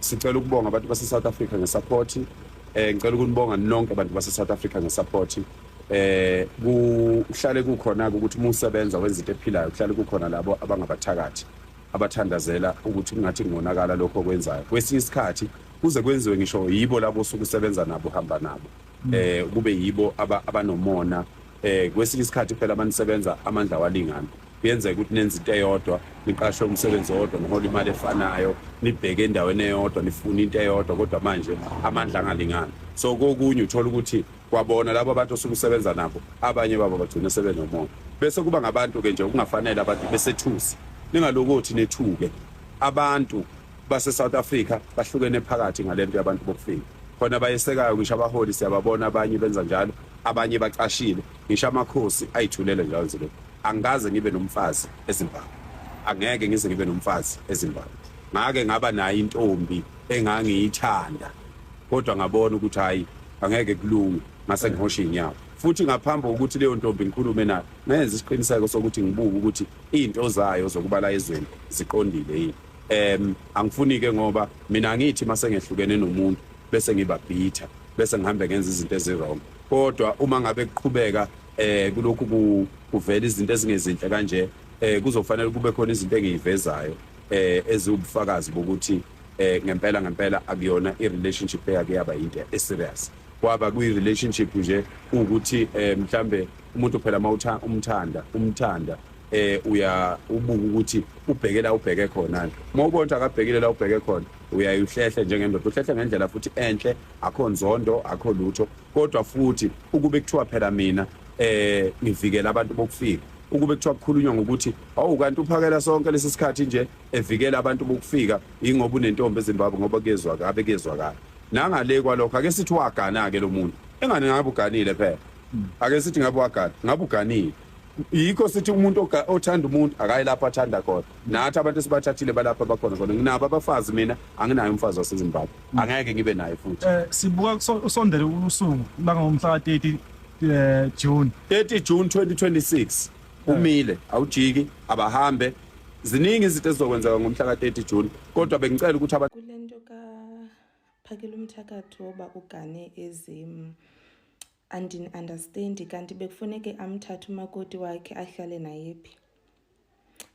Sicela ukubonga abantu base South Africa ngesupport. Eh ngicela ukunibonga nonke abantu base South Africa ngesupport. Eh kuhlale kukhona ukuthi uma usebenza wenza into ephilayo kuhlale kukhona labo abangabathakathi abathandazela ukuthi kungathi ngonakala lokho okwenzayo. Kwesinye isikhathi kuze kwenziwe ngisho yibo labo osuke usebenza nabo uhamba nabo. eh kube yibo abanomona eh kwesinye isikhathi phela manisebenza amandla walingana kuyenzeka ukuthi nenza into eyodwa niqashwe umsebenzi owodwa nihola imali efanayo nibheke endaweni eyodwa nifuna into eyodwa kodwa manje amandla angalingana so kokunye uthola ukuthi kwabona labo abantu osuke usebenza nabo abanye babo bagcina sebenomona bese kuba ngabantu-ke nje okungafanele abantu besethusi ningalokothi nethuke abantu base South Africa bahlukene phakathi ngalento yabantu bokufika khona bayesekayo ngisho abaholi siyababona abanye benza njalo abanye bacashile ngisho amakhosi ayithulele njalo nje lokho angikaze ngibe nomfazi eZimbabwe angeke ngize ngibe nomfazi eZimbabwe ngake ngaba nayo intombi engangiyithanda kodwa ngabona ukuthi hayi angeke kulunge ngase ngihosha inyawo futhi ngaphambi kokuthi leyo ntombi ngikhulume nayo ngenza isiqiniseko sokuthi ngibuke ukuthi izinto zayo zokuba la ezweni ziqondile yini em angifuni ke ngoba mina ngithi masengehlukene nomuntu bese ngiba bitter bese ngihambe ngenza izinto ezirong kodwa uma ngabe kuqhubeka eh kulokhu ku- kuvela izinto ezingezinhle kanje eh kuzofanele kube khona izinto engiyivezayo eh eziwubufakazi bokuthi eh ngempela ngempela akuyona i-relationship eyake yaba yinto e-serious kwaba kwi-relationship nje ukuthi eh mhlambe umuntu phela mawutha umthanda umthanda eh uya ubuka ukuthi ubhekela ubheke khona uma ubona ukuthi akabhekile la ubheke khona uyayihlehle njengendoda uhlehle ngendlela futhi enhle akho nzondo akho lutho kodwa futhi ukube kuthiwa phela mina eh ngivikela abantu bokufika ukube kuthiwa kukhulunywa ngokuthi awu kanti uphakela sonke lesi sikhathi nje evikela abantu bokufika ingoba unentombi eZimbabwe ngoba kuyezwa kabe kuyezwa kabi nangale kwalokho ake sithi wagana ke lo muntu engane ngabe uganile phela ake sithi ngabe wagana ngabe uganile yikho sithi umuntu othanda umuntu akayi lapho athanda khona nathi abantu esibathathile balapha bakhona khona nginabo abafazi mina anginaye umfazi wasezimbabwe mm. angeke ngibe naye futhi um sibuka usondele usuku langomhla ka-30 eh, june 30 june 2026 eh. umile awujiki abahambe ziningi izinto ezizokwenzeka ngomhla ka-30 june kodwa bengicela ukuthi abantu phakela umthakathi woba ugane ezim andini-understandi kanti bekufuneke amthathe umakoti wakhe ahlale naye phi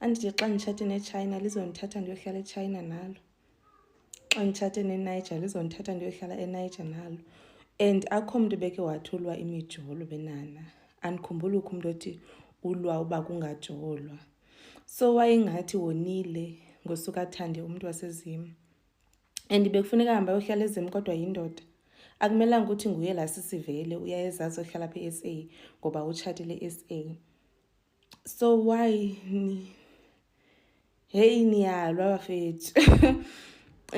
andithi xa nditshate nechina lizondithatha ndiyohlala echina nalo xa nditshate neniger lizondithatha ndiyohlala eniger nalo and akho mntu beke wathulwa imijolo benana andikhumbuli ukho umntu othi ulwa uba kungajolwa so wayengathi wonile ngosuka athande umntu wasezima and bekufuneka ahambe ayohlala ezimu kodwa yindoda akumelanga ukuthi nguye la sisivele uyayezazi ohlala pha e-s a ngoba utshatile e-s a so why ni heyi niyalwa bafethu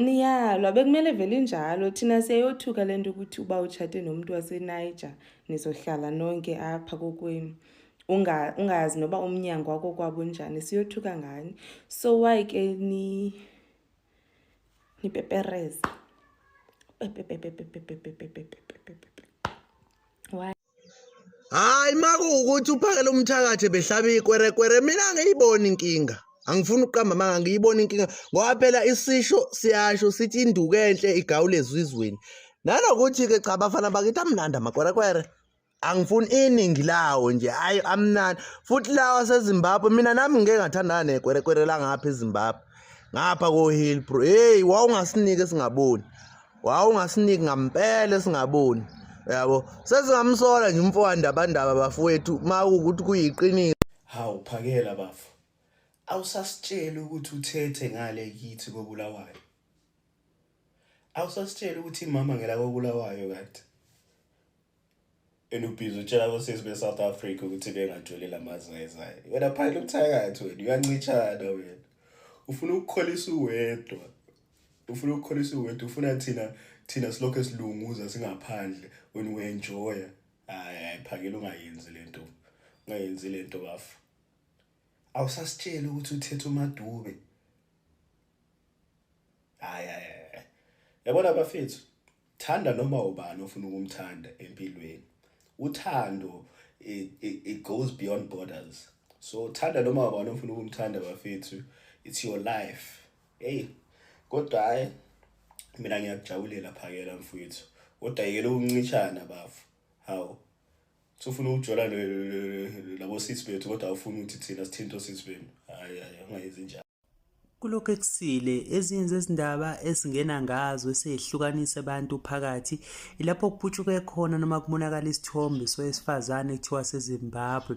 niyalwa bekumele vele injalo thina siyayothuka le nto ukuthi uba utshate nomntu waseniger nizohlala nonke apha kokwenu ungayazi noba umnyango wako kwabo njani siyothuka ngani so why ke ni ngipepereze hayi makuwukuthi uphakela umthakathi behlaba ikwerekwere mina ngiyibona inkinga angifuni ukuqamba manga ngiyibona inkinga ngoba phela isisho siyasho sithi induku enhle igawula ezizweni nanokuthi-ke cha bafana bakithi amnandi amakwerekwere angifuni iningi lawo nje hayi amnani futhi lawa sezimbabwe mina nami ngike ngathandana nekwerekwere langapha ezimbabwe ngapha kohill bro heyi wawungasiniki esingaboni wawungasiniki ngampela esingaboni yabo sesingamsola nje umfowandabandaba bafowethu ma ukuthi kuyiqiniso hawu phakela bafo awusasitsheli ukuthi uthethe ngale kithi kobulawayo awusasitsheli ukuthi imama ngelakobulawayo kade and ubhizi utshela kosisi be-south africa ukuthi bengatholi la mazwi ayezayo wena phayela ubuthakathi wena uyancitshana wena ufuna ukukholisa uwedwa ufuna ukukholisa uwedwa ufuna thina thina silokhu esilunguza singaphandle wena uenjoya hayi hayi phakela ungayenzi le nto ungayenzi le nto bafo awusasitsheli ukuthi uthethe umadube hayi hayi yabona bafethu Thanda noma ubani ofuna ukumthanda empilweni. Uthando it, it, it goes beyond borders. So thanda noma ubani ofuna ukumthanda bafethu. It's your life. Hey, kodwa hayi mina ngiyakujabulela phakela mfowethu. Kodwa yekela ukuncishana bafu. Hawu. Sofuna ukujola labo sisi bethu kodwa awufuni ukuthi thina sithinto sisi benu. Hayi hayi ungayenzi njalo. Kulokhu ekusile, ezinye zezindaba esingena ngazo esehlukanisa abantu phakathi ilapho kuputshuke khona noma kubonakala isithombe sowesifazane kuthiwa seZimbabwe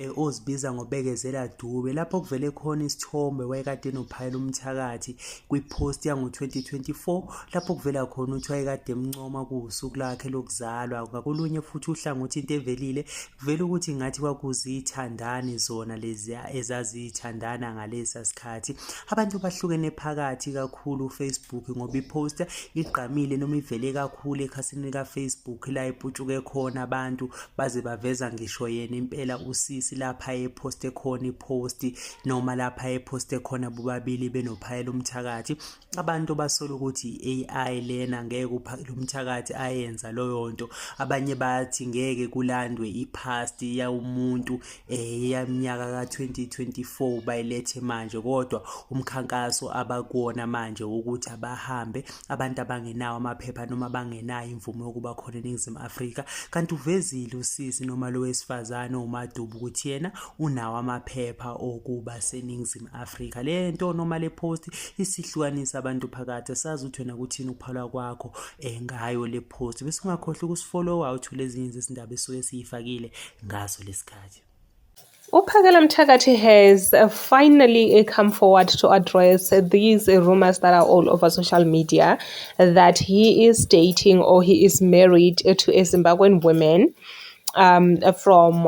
eh, ozibiza ngobekezela Dube lapho kuvele khona isithombe wayekade enophayela umthakathi kwipost yango-2024 lapho kuvela khona ukuthi wayekade emncoma kuwusuku lakhe lokuzalwa ngakolunye futhi uhlangothi into evelile Vele ukuthi ngathi kwakuzithandani zona lezi ezazithandana ngalesa sikhathi. Abantu bahlukene phakathi kakhulu uFacebook ngoba iposter igqamile noma ivele kakhulu ekhasini likaFacebook la iputshuke khona abantu baze baveza ngisho yena impela usisi lapha eposte khona ipost noma lapha eposte khona bobabili benophayela umthakathi abantu basola ukuthi i-AI lena ngeke lo mthakathi ayenza loyo nto abanye bathi ngeke kulandwe i-past yawumuntu eh yaminyaka ka-2024 bayilethe manje kodwa umkhankaso abakuwona manje ukuthi abahambe abantu abangenawo amaphepha noma bangenayo imvume yokuba khona eningizimu afrika kanti uvezile usisi noma lo wesifazane umadubu ukuthi yena unawo amaphepha okuba seningizimu Afrika le nto noma le post isihlukanisa abantu phakathi sazi ukuthi wena kuthini ukuphalwa kwakho eh, ngayo le post bese ungakhohlwa ukusifollowa uthule ezinye izindaba esuke siyifakile ngaso lesikhathi Uphakela Mthakathi has uh, finally uh, come forward to address these rumors that are all over social media that he is dating or he is married to a Zimbabwean woman um, from